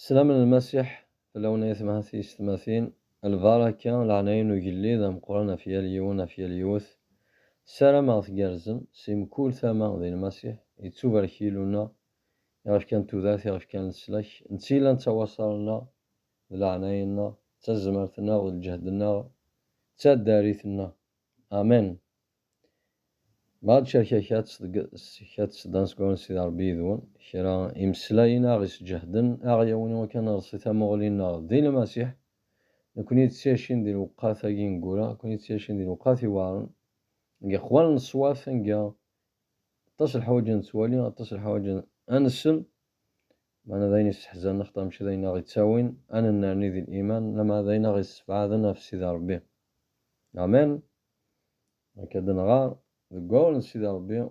Slam n Lmasiḥ fell-awen ay atmaten ay teysetmatin, lbaraka, leɛnaya n ugellid ameqran ɣef yal yiwen, ɣef yal yiwet. Ssarameɣ tgerrzem, si mkul tama, di Lmasiḥ. Yettubarek Yillu-nneɣ, i ɣ-ifkan tudert, i ɣ-ifkan leslak. Netta i yellan d tawaṣar-nneɣ, d leɛnaya-nneɣ, d tazmert-nneɣ, d lǧehd-nneɣ, d taddari-t-nneɣ. Amen! Bad Cakaka ţ-ţ-ţ-ţ-ţ-ţ-ţ s dan seg wansi d Ṛebbi yid-wen, kra imeslayen aɣ isǧehden, aɣ yawin iwakken ad neṛṣi tamuɣli-nneɣ di Lmasiḥ, nekni d ţ-ţyacin di lewqat agi ineggura, nekni d ţ-ţyacin di lewqat iweɛṛen, deg iqwal n ṣṣwat anga aṭas leḥwaǧ a neţwali, aṭas leḥwaǧ a nessen, meɛna d ayen isseḥzanen axaṭer mačči d ayen aɣ iţawin a nennerni di liman, lameɛna d ayen aɣ issebɛaden ɣef Sidi Ṛebbi. Amen. Akka d-nɣer deg wawal n Sidi Rebbi,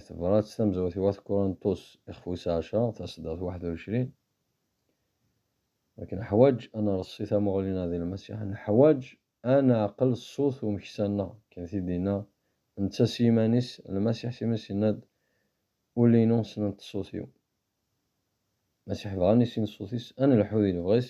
tebrat tamezrawt i Wat Kuranṭus ixef wis ɛecṛa, taseddart waḥed u ɛecrin, akken neḥwaǧ ad nreṣṣi tamuɣli-nneɣ di Lmasiḥ, neḥwaǧ ad neɛqel ṣṣut n umeksa-nneɣ, akken t-id-yenna netta s yiman-is, Lmasiḥ s iman-is yenna-d, Ul-inu ssnent ṣṣut-iw. Lmasiḥ bɣan i sin ṣṣut-is, ad nelḥu di lebɣi-s,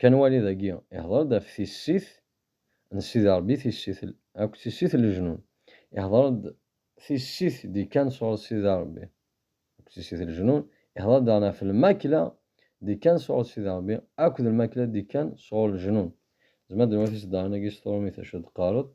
Kan wali dagi, ihder-d ɣef tissit n Sidi Rebbi tissit l, akk tissit n leǧnun. Ihder-d tissit d-ikkan sɣur Sidi Rebbi, akk tissit n leǧnun. Ihder-d daɣen ɣef lmakla d-ikkan sɣur Sidi Rebbi, akk d lmakla d-ikkan sɣur leǧnun. Zemren ad d-nwatis daɣen agi s tṛumit acu d-qqaret.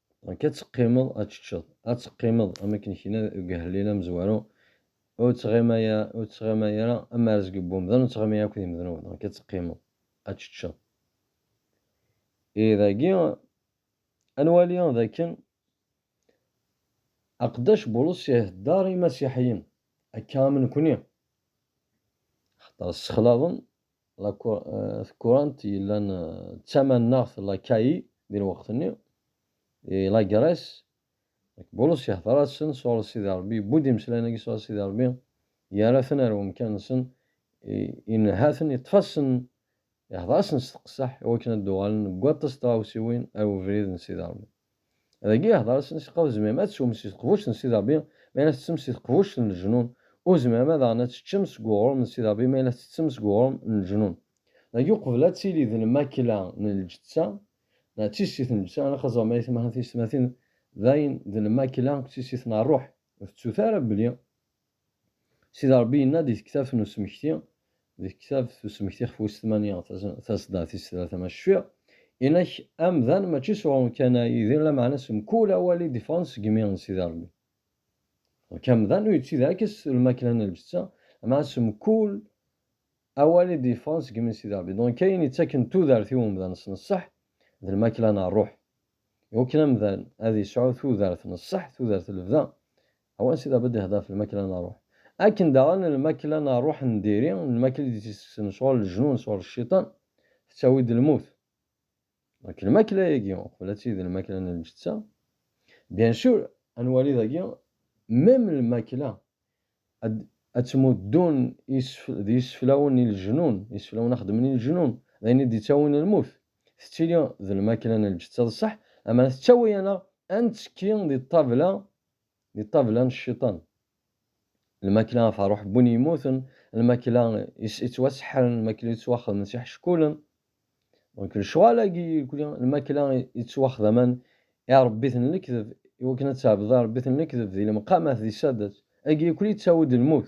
Donc ad teqqimeḍ ad teččeḍ, ad teqqimeḍ am akken kna deg ahellil amezwaru, ur ttɣima ya, ur ttɣima ara am arzg n wemdan, ur ttɣima ya akked imednuben, donc ad teqqimeḍ ad teččeḍ. Et dagi ad nwali d akken Aqeddac Bulus ihedder imasiḥiyen akka am nekni, axaṭer ssexlaḍen Takurant yellan d tamaneɣt lakay di lweqt-nni i Lagrès. Nek Bulus yehder-asen sɣur Sidi Rebbi, yewwi-d imeslayen-agi sɣur Sidi Rebbi, yerra-ten ar wemkan-nsen, inneha-ten, yeṭṭef-asen, yehder-asen s teqseḥ i wakken ad d-uɣalen deg waṭas n tɣawsiwin ar webrid n Sidi Rebbi. Dagi ihder-asen i Seqqaw tzemrem ad teswem si teqbuct n Sidi Rebbi ma yella tettettem si teqbuct n leǧnun, ur tzemrem ad aɣen ad teččem seg uɣrum n Sidi Rebbi ma yella tettettem seg uɣrum n leǧnun. Dagi uqbel ad tili d lmakla n lǧetta neɣ d tissit n lǧetta ilaq ad ẓren belli timaḥa n tiyessetmatin dayen d lmakla akked tissit n rruḥ, ur tettut ara belli Sidi Ṛebbi yenna-d di tektabt n usmekti, di tektabt n usmekti ɣef wis tmanya, tasedda tis tlata, ma cfiɣ, Inak amdan mačči s uɣrum kan a Yidir, lameɛna s mkul awal i d-iffɣen seg imi n Sidi Ṛebbi. Inak amdan ur yettili akka s lmakla n lǧetta, lameɛna s mkul awal i d-iffɣen seg imi n Sidi Ṛebbi. Dɣenk ayen yettaken tudert i umdan s neṣṣeḥ, d lmakla n ṛṛuḥ. Iwakken amdan ad yesɛu tudert n ṣṣeḥ, tudert n lebda, او ansiḍa bed hder f lmakla n ṛuḥ. Akken daɣen lmakla n ṛuḥ n diri, lmakla i d-ittekksen sɣur leǧnun, sɣur lciṭan, tettawi-d lmut. Donc lmakla-agi, uqbel ad tili d lmakla n lǧetta, bien sûr ad nwali dagi même lmakla ad ad ttmuddun d yiseflawen i leǧnun, iseflawen a xeddmen i leǧnun, d ayen i d-ittawin lmut, tettili d lmakla n lǧetta d ṣṣeḥ, ama tettawi-aneɣ ad nettekki di ṭṭabla di ṭṭabla n cciṭan. Lmakla af ṛuḥ n win yemmuten, lmakla yettwaseḥḥren, lmakla yettwaxedmen s iḥeckulen. Dɣuk lecɣal-agi irkli, lmakla yettwaxdamen i iṛebbiten n lekdeb, i wakken ad tɛebdeḍ iṛebbiten n lekdeb di lemqamat, di saddat, agi irkli yettawi-d lmut.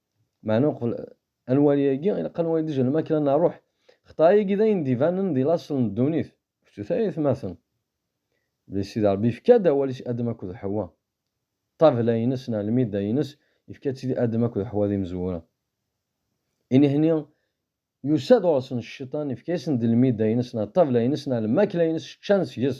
Meɛna uqbel ad nwali agi, ilaq ad nwali dejja lmakla n rruḥ. Xeṭṭay-agi d ayen d-ibanen di laṣel n ddunit. Kečč-it ay atmaten, belli Sidi Ṛebbi yefka-d awal-is i Adem akked Ḥewwa. Ṭṭabla-ines neɣ lmidda-ines, yefka-tt-id i Adem akked Ḥewwa d imezwura. Inehni, yusa-d ɣur-sen Cciṭan, yefka-yasen-d lmidda-ines neɣ ṭṭabla-ines neɣ lmakla-ines, ččan seg-s.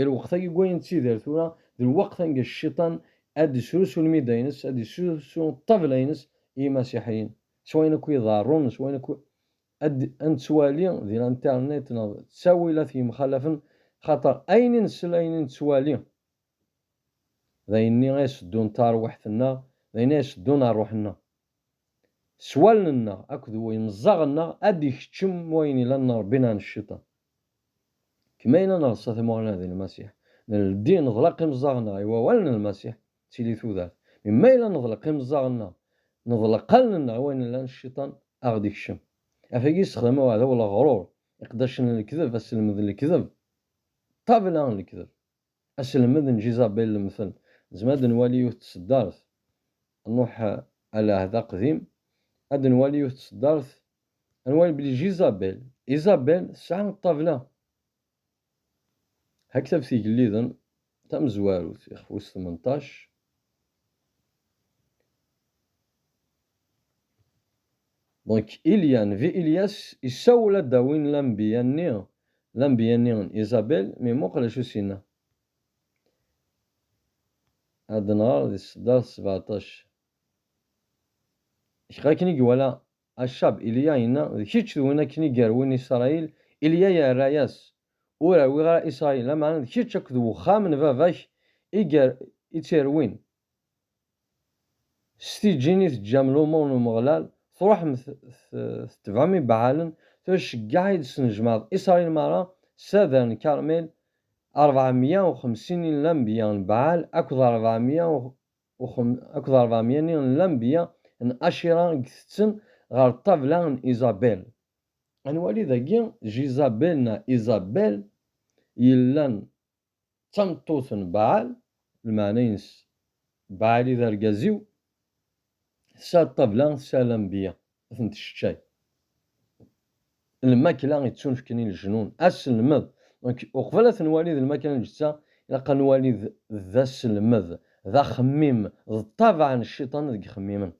I lweqt-agi n wayen nettidir tura, d lweqt anga Cciṭan ad d-isrusu lmida-ines, ad d-isrusu ṭṭabla-ines i yimasiḥiyen, s wayen akk iḍerrun, s wayen akk ad nettwali di l'internet neɣ d ttawilat yemxalafen, axaṭer ayen i nsel, ayen i nettwali, d ayen-nni ay as-teddun tarwiḥt-nneɣ, d ayen ay as-teddun ṛṛuḥ-nneɣ. s wallen-nneɣ akked yimeẓẓaɣ-nneɣ ad d-ikeččem wayen yellan n Rebbi neɣ n Cciṭan. Kem ayen ad nreṣṣa timuɣli-nneɣ di Lmasiḥ, nleddi, neḍleq imeẓẓaɣ-nneɣ i wawal n Lmasiḥ, d tili tudert. Mi ma yella neḍleq imeẓẓaɣ-nneɣ, neḍleq allen-nneɣ i wayen yellan Cciṭan a ɣ-d-ikeččem. Afagi yessexdam uɛdaw leɣrur, iqeddacen n lekdeb, asselmed n lekdeb, ṭṭabla n lekdeb. Aselmed n Jizabel lemten. Nezmer ad d-nwali yiwet n tseddart n Nuḥ a lɛehd aqdim. Ad d-nwali yiwet n tseddart, ad nwali belli Jizabel, Isabel, tesɛa ṭṭabla Haktab Tigelliden tamezwarut, ixef wis tmenṭac. Donc, Ilya, Nevi Ilyas, yessawel ad d-awin lambiya-nni, lambiya-nni n Isabel, mi muqel acu s-yenna. Ad nɣer di ṣṣdart sebeɛṭac. Kra akken i iwala Acab, Ilya yenna, d kečč d win akken i yerwin Isṛayil, Ilya yerra-yas, Ur rwiɣ ara Israyil, lameɛna d kečč akked wexxam n baba-k i tt-irwin. S tiǧǧin i teǧǧam lumuṛ n Umeɣlal, truḥem tetebɛem ibaɛalen, tura ceggeɛ i d-tesnejmaɛeḍ Israyil meṛṛa s adrar n Karmel, rebɛa meyya u xemsin n lanbeyya n Baɛal akked rebɛa meyya akked rebɛa meyya-nni n lanbeyya n Acira i itetten ɣer ṭṭabla n Izabel. Ad nwali dagi Jizabel neɣ Izabel yellan d tameṭṭut n Baɛal, lmeɛna-ines Baɛal i d argaz-iw, tesɛa ṭṭabla, tesɛa lanbeyya, ad ten-tesseččay. Lmakla yettunefken i leǧnun, aselmed. Donc, uqbel ad t-nwali d lmakla n lǧetta, ilaq ad nwali d aselmed, d axemmim, d ṭṭabaɛ n cciṭan deg ixemmimen.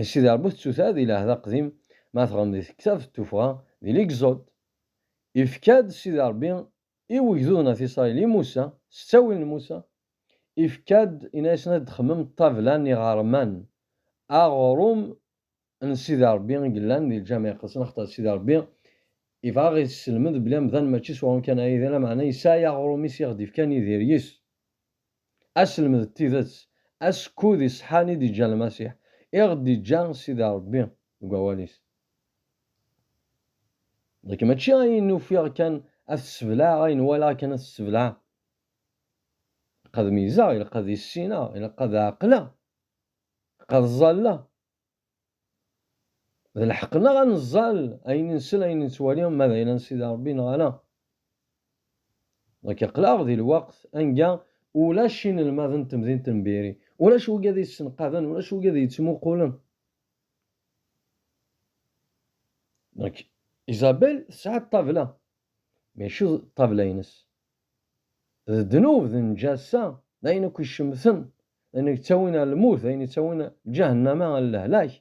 I Sidi Rebbi tettuta di lɛehd aqdim, ma tɣen di tektabt n tuffɣa, di Ligzod. Ifka-d Sidi Rebbi i wegduden at Isṛayil i Musa, s ttawil n Musa, ifka-d, inna-yasen ad d-xemmem ṭṭabla n iɣerman, aɣrum n Sidi Rebbi i yellan di Lǧameɛ Iqedsen, axaṭer Sidi Rebbi ibɣa a ɣ-isselmed belli amdan mačči s uɣrum kan ara yili, lameɛna yesɛa i aɣrum-is i ɣ-d-ifkan Idir yis. Aselmed d tidett, asekkud iseḥḥan i d-iǧǧa Lmasiḥ, i ɣ-d-iǧǧa Sidi Ṛebbi deg wawal-is. Nekk mačči ayen ufiɣ kan ad t-seblaɛeɣ, ayen walaɣ kan ad t-seblaɛeɣ. Ilaq ad meyyzeɣ, ilaq ad issineɣ, ilaq ad ɛeqleɣ, ilaq ad ẓalleɣ, D lḥeqq-nneɣ ad neẓẓal ayen nsel, ayen nettwali, ma d ayla n Sidi Ṛebbi neɣ ala. Nekk aql-aɣ di lweqt anga ulac inelmaden n temdint n Biri, ulac wigi ad iyi-ssenqaden, ulac wigi ad iyi-ttmuqulen. Nekk, Isabelle tesɛa ṭṭabla, maca d ṭṭabla-ines. D ddnub d nǧassa, d ayen akk icemten, d ayen yettawin ar lmut, d ayen yettawin ǧahennama ar lehlak,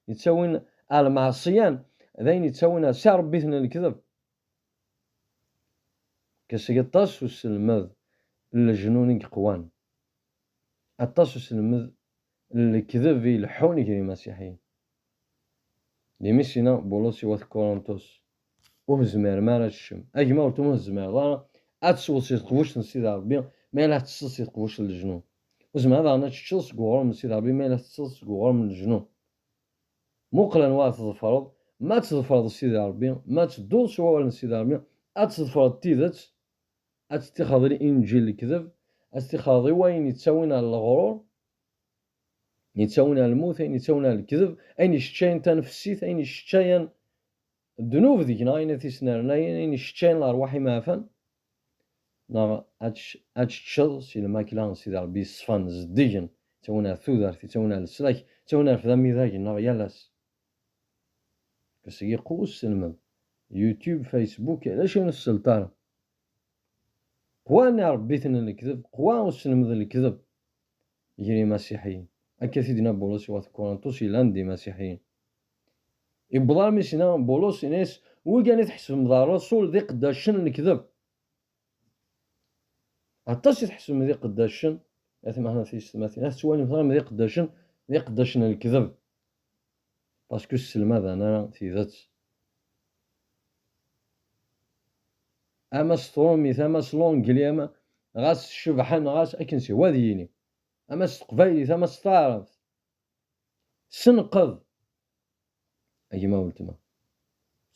yettawin ar lmeɛṣiyan, d ayen yettawin ar si Ṛebbi-ten n lekdeb. Kker seg aṭas uselmed n leǧnun i yeqwan, aṭas uselmed n lekdeb i ileḥḥun gar yimasiḥiyen. Di Misina, Bulus iwet Kuruntus, Ur tezmirem ara ad teččem. A gma, ur tezmireḍ ara ad tesweḍ si teqbuct n Sidi Ṛebbi ma yella teṭṭseḍ si teqbuct n leǧnun. Ur tezmireḍ daɣen ad teččeḍ seg uɣrum n Sidi Ṛebbi ma yella teṭṭseḍ seg uɣrum n leǧnun. Muqel anwa ara tḍefreḍ, ma ad tḍefreḍ Sidi Ṛebbi, ma ad tedduḍ s wawal n Sidi Ṛebbi, ad tḍefreḍ tidet, ad teṭṭixreḍ i inǧil n lekdeb, ad teṭṭixreḍ i wayen yettawin ɣer leɣrur. Yettawna lmut, ayen yettawna lekdeb, ayen yesseččayen tanefsit, ayen yesseččayen ddnub deg-neɣ, ayen ad t-yesnernayen, ayen yesseččayen lerwaḥ imeɛfan, neɣ ad teččeḍ si lmakla n Sidi Rebbi yeṣfan, zeddigen, yettawna tudert, yettawna leslak, yettawna rfed amidag nneɣ yal ass. Seg iqqu usselmed, YouTube, Facebook, ulac ur nesselt ara. Qwan irebbi-ten n lekdeb, qwa usselmed n lekdeb, gar yimasiḥiyen. Akka t-id-yenna Bulus i wat Kuṛentus yellan d imasiḥiyen. Iwweḍ armi s-yenna Bulus, yenna-yas, Wigan i tḥesbem d aṛṛusul d iqeddacen n lekdeb. Aṭas i tḥesbem d iqeddacen, at meḥna tiyessetmatin, ad tettwalimt armi d iqeddacen, d iqeddacen n lekdeb. Parce que sselmaden ara tidet. Ama s trumit, ama s l'anglais, ama ɣas cebḥen, ɣas akken s wa ad yini. Ama s teqbaylit, ama s taɛrabt. Senqed! A gma weltma.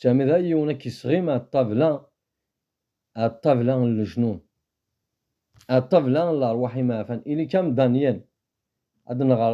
Sami d yiwen ad k-isɣim ar ṭṭabla, ar ṭṭabla n lejnun. Ar ṭṭabla n lerwaḥ imeɛfan. Ili-k am Daniel. Ad nɣer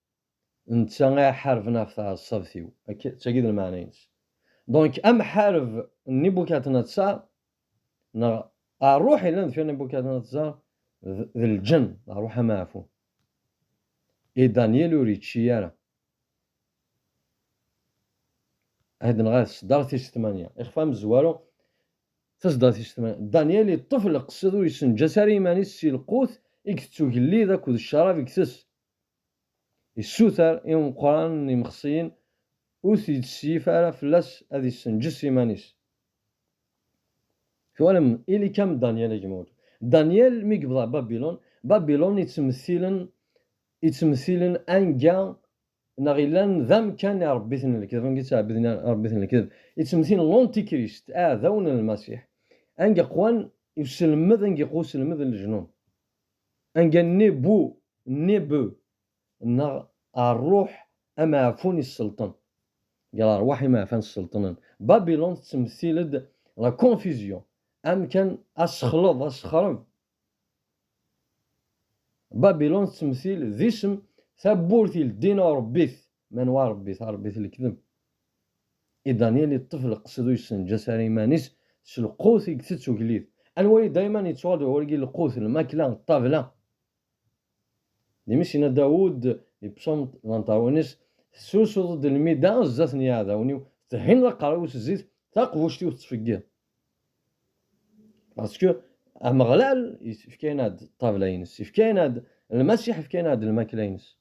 Netta i iḥarben ɣef tɛeṣṣabt-iw. Akka, d tagi d lmeɛna-ines. Donc, amḥareb n Nibukadnatsar, neɣ rruḥ yellan deffir Nibukadnatsar, d, d lǧenn, d rruḥ amaɛfun. Et Daniel ur yečči ara. Ahd neɣ ahd sdaɣ tis tmanya. Ixef amezwaru, tasdaɣ tis tmanya. Daniel yeṭṭef leqsed ur yessenǧas ara iman-is si lqut i itett ugellid akked ccarab i itess. Yessuter i umeqqran n yimexsiyen ur t-yettseyyif ara fell-as ad yessenǧes iman-is. Twalem? Ili-kam Danyal a gma-w. Danyal mi yebḍa Babilun, Babilun yettmettilen yettmettilen anga neɣ yellan d amkan i ṛebbiten n lekdeb, anga yettɛebbeden iṛebbiten n lekdeb. Yettmettilen Lantikrist, aɛdawen n Lmasiḥ, anga qwan uselmed, anga iqwa uselmed n lejnun. Anga nni bu, nni bu, neɣ rruḥ ameɛfun isselṭen, deg lerwaḥ imeɛfan sselṭnen, Babilun tettemtil-d la confusion, amkan asexleḍ, asexreb. Babilun tettemtil d isem tawwurt i leddin urebbit, Manwa Rebbi tarebbit lekdeb? I Daniel yeṭṭef leqsed ur yessenǧas ara iman-is s lqut i itett ugellid. Anwa i dayman yettwali ɣur gi lqut, lmakla, ṭṭabla? D imi-s yenna Dawud di Psaume Lantarunes, Tesrusuḍ-d lmida zdat n yiɛdawen-iw, tethineḍ aqerru-w s zzit, taqbuct-iw tettfeggiḍ. Parce que Ameɣlal ifka-aneɣ-d ṭṭabla-ines, ifka-aneɣ-d Lmasiḥ, ifka-aneɣ-d lmakla-ines.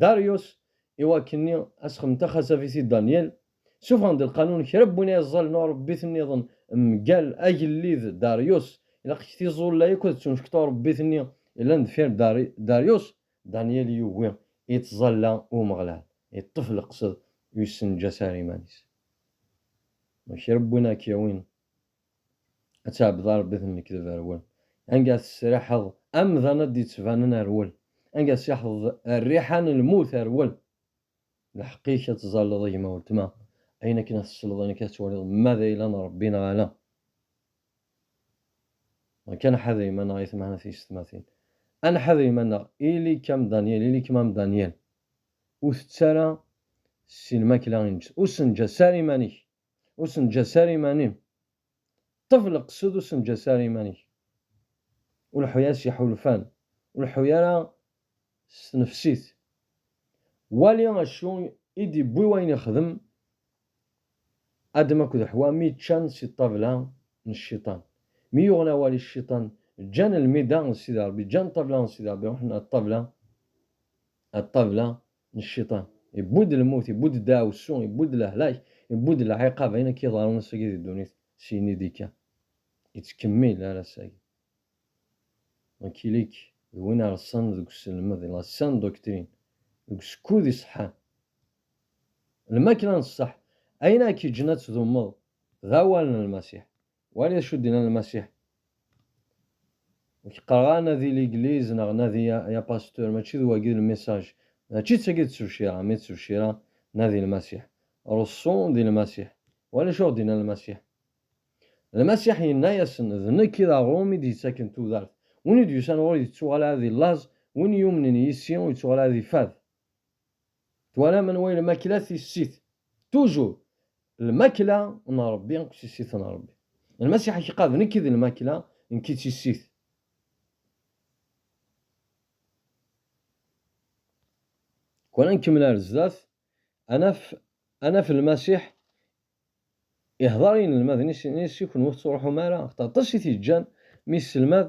Darius, i wakken-nni asxem taxasafit i Danyal, sufɣen-d lqanun kra n win ay ẓẓalen urebbit niḍen mgal agellid Darius, ilaq-ik tiẓulla akk ad ttuncekta urebbit-nni yellan deffir Darius, Danyal yugi i ttẓalla i Umeɣlal, yeṭṭef leqsed u yessenǧas ara iman-is. Ma kra n win ara k-yawin Ad tɛebbed Arebbi tennekdeb rwel. Anga tesriḥeḍ amdan ad d-ittbanen rwel. Anga tseḥḍeḍ rriḥa n lmut rwel. Lḥeqq-ik ad tẓalleḍ gma weltma, ayen akken ad tesleḍ ayen akka ad twaliḍ ma d ayla n Rebbi neɣ ala. Neɣ kan ḥader iman-nneɣ ay tmehna tiysetmatin. Ad nḥader iman-nneɣ ili-k am Danyal, ili-kem am Danyal. Ur tett ara si lmakla ineǧǧsen. Ur ssenǧas ara iman-ik. Ur senǧas ara iman-im. Ṭṭef leqsed ur senǧas ara iman-ik. Ur leḥḥu ara s yiḥulfan, ur leḥḥu ara s tnefsit. Wali acu i d-iwwi wayen ixdem Adem akked Ḥwa mi ččan si ṭṭabla n cciṭan. Mi yuɣen awal i cciṭan, ǧǧan lmida n Sidi Ṛebbi, ǧǧan ṭṭabla n Sidi Ṛebbi, ṛuḥen ar ṭṭabla, ar ṭṭabla n cciṭan. Iwwi-d lmut, iwwi-d deɛwessu, iwwi-d lehlak, iwwi-d lɛiqab, ayen akka iḍerrun ass-agi di ddunit, syin i d-ikka. Yettkemmil ar ass-agi. Donc ili-k d win ireṣṣan deg uselmed, di la saine doctrine, deg usekkud iṣeḥḥan. Lmakla n ṣṣeḥ, ayen ara k-yeǧǧen ad tdummeḍ, d awal n Lmasiḥ. Wali d acu d-yenna Lmasiḥ. Nekk qqareɣ a nadi ligliz neɣ nadi a a pasteur, mačči d wagi lmissage. Mačči d tagi d tebcira, mi d tebcira nadi Lmasiḥ. Reṣṣu di Lmasiḥ. Wali acu ɣ d-yenna Lmasiḥ. Lmasiḥ yenna-yasen, d nekk i d aɣrum i d-yettaken tudert. Win i d-yusan ɣur-i yettuɣal ɛad di llaẓ, win yumnen yis-i ur yettuɣal ɛad ifad. Twalam anwa i lmakla tissit? Toujours! Lmakla n Rebbi akked tissit n Rebbi. Lmasiḥ i k-iqad, Nekk i d lmakla, nekk i d tissit. Kwan nkemmel ar zdat, ad naf, ad naf Lmasiḥ ihdeṛ i yinelmaden-is, yenna-yas, I kenwi ur tettṛuḥum ara? Axaṭer aṭas i t-yeǧǧan mi yesselmad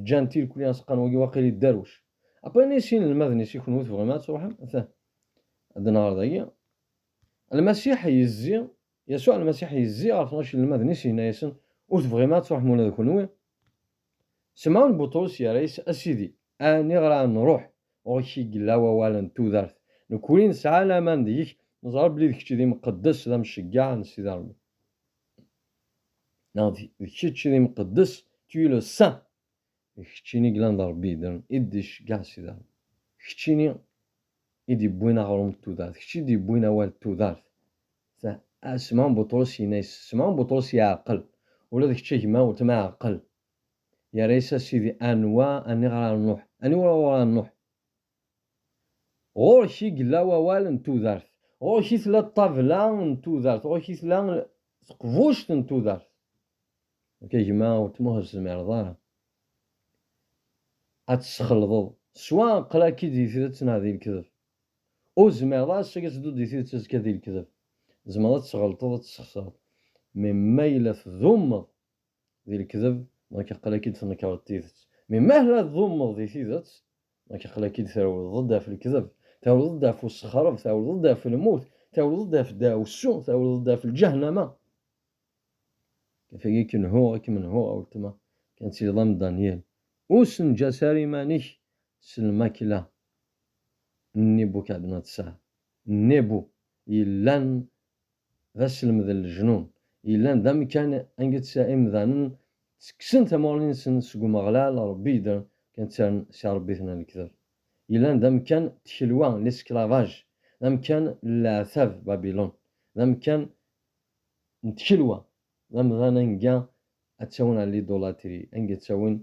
Ǧǧan tilkli aseqqan wagi waqil yedderwec. Après nni s inelmaden-is i kunwi tebɣim ad truḥem? Ata ad d-nɣer dagi. Lmasiḥ yezzi, Yasuɛ Lmasiḥ yezzi ɣer tnac inelmaden-is yenna-yasen, Ur tebɣim ad truḥem ula d kunwi? Semɛun Buṭrus yerra-yas, A Sidi, aniɣer ad nruḥ? Ɣur-k i yella wawal n tudert. Nekwni nesɛa laman deg-k, neẓra belli d kečč i d imqeddes, d amceggeɛ n Sidi Rebbi. neɣ d kečč d imqeddes tu es le saint d keččini yellan d rebbi yeddren i d-iceggeɛ si daɣen d keččini i d-yewwin aɣrum d tudert d kečč i d-yewwin awal d tudert Smaɛun Buṭrus yenna-yas Smaɛun Buṭrus yeɛqel ula d kečč a gma weltma ɛqel yerra-yas a sidi anwa aniɣer ara nruḥ aniwur ɣur ara nruḥ Ɣur-k i yella wawal n tudert, ɣur-k i tella ṭṭabla n tudert, ɣur-k i tella teqbuct n tudert. Nekk a gma weltma ur tezmireḍ ara ad tesxelḍeḍ s wa, aql-ak-id di tidet neɣ di lekdeb. Ur tezmireḍ ara ass-agi ad tedduḍ di tidet azekka di lekdeb. Tzemreḍ ad tesɣelṭeḍ ad tesxesreḍ, mais ma yella tdumeḍ di lekdeb, donc aql-ak-id tnekreḍ tidet. Mais ma la tḍummeḍ di tidet, donc aql-ak-id trewleḍ-d ɣef lekdeb, trewleḍ-d ɣef ussexreb, trewleḍ-d ɣef lmut, trewleḍ-d ɣef ddaɛwessu, trewleḍ-d ɣef lǧahnama. Kafagi k-nhuɣ, ad kem-nhuɣ a weltma, kan ad tiliḍ am Daniel. Ur ssenǧas ara iman-ik s lmakla n Nibukadnatsar, Nebu, yellan d aselmed n leǧnun, yellan d amekkan anget imdanen ttekksen tamuɣli-nsen seg Umeɣlal, Rebbi yeddren kan ttaren s irebbiten n lekdeb. Yellan d amekkan n tkelwa, l'esclavage, d amekkan n leɛtab, Babilun, d amekkan n tkelwa, d amdan anga ad ttawin ɣer l'idolâtrie, anga ttawin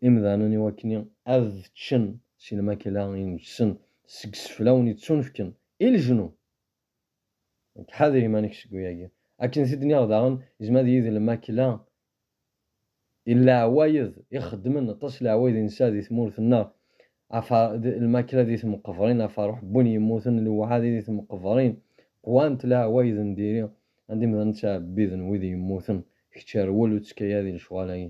imdanen i wakken ad ččen si lmakla ineǧsen seg seflawen yettunefken i leǧnun. Ḥader iman-ik seg wayagi. Akken t-id nniɣ daɣen, yezmer ad yili d lmakla n leɛwayed i xeddmen aṭas leɛwayed i nesɛa di tmurt-nneɣ, lmakla di temqebrin, aferruḥ n win yemmuten, lewɛadi di temqebrin, qwant leɛwayed n diri, anda imdanen ttɛebbiden wid yemmuten, kečč rwel ur ttkayad i lecɣal-agi.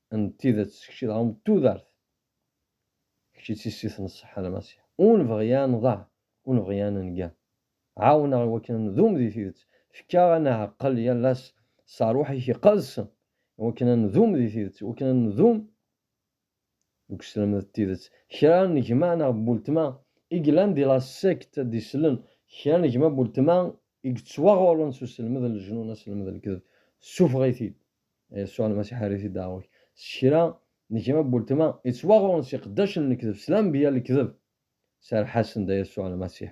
n tidet s kečči dɣa n tudert, kečči d tissit n ṣṣeḥḥa Lmasiḥ, ur nebɣi a nḍeɛ, ur nebɣi a nenga. Ɛawen-aɣ i wakken a ndum di tidet, fek-aɣ a nɛeqqel yal ass s rruḥ-ik iqedsen i wakken a ndum di tidet, i wakken a ndum deg usselmed n tidet. Kra n gma neɣ n weltma i yellan di la secte ad d-islen, kra n gma n weltma i yettwaɣurren s usselmed n lejnun, asselmed n lekdeb, ssufeɣ-it-id. Yasuɛ Lmasiḥ err-it i ddaɛwa-k s kra n gma n weltma yettwaɣurren s iqeddacen n lekdeb, s lanbeyya n lekdeb. Serreḥ-asen-d a Yasuɛ Lmasiḥ,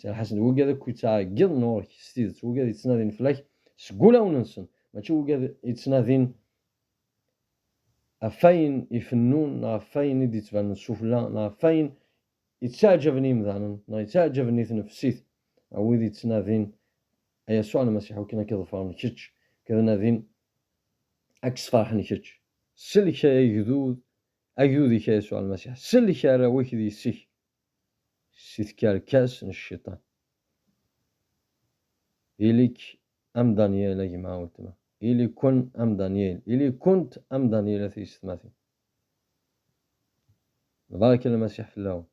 serreḥ-asen-d wugad akk yettɛeggiḍen ɣur-k s tidet, wugad yettnadin fell-ak seg wulawen-nsen, mačči wugad yettnadin ɣef wayen ifennun neɣ ɣef wayen i d-yettbanen sufella neɣ ɣef wayen Yettaɛǧaben yimdanen neɣ yettaɛǧaben i tnefsit a wid yettnadin a Yasuɛ Lmasiḥ akken a k-ḍefren kečč, ked nadin a k-sferḥen kečč. Sellek a agdud agdud-ik a Yasuɛ Lmasiḥ, sellek arraw-ik d yessi-k si tkerkas n Cciṭan. Ili-k am Danyal a gma a weltma, ili-ken am Danyal, ili-kent am Danyal a tiysetmatin. Lbaraka n Lmasiḥ fell-awen.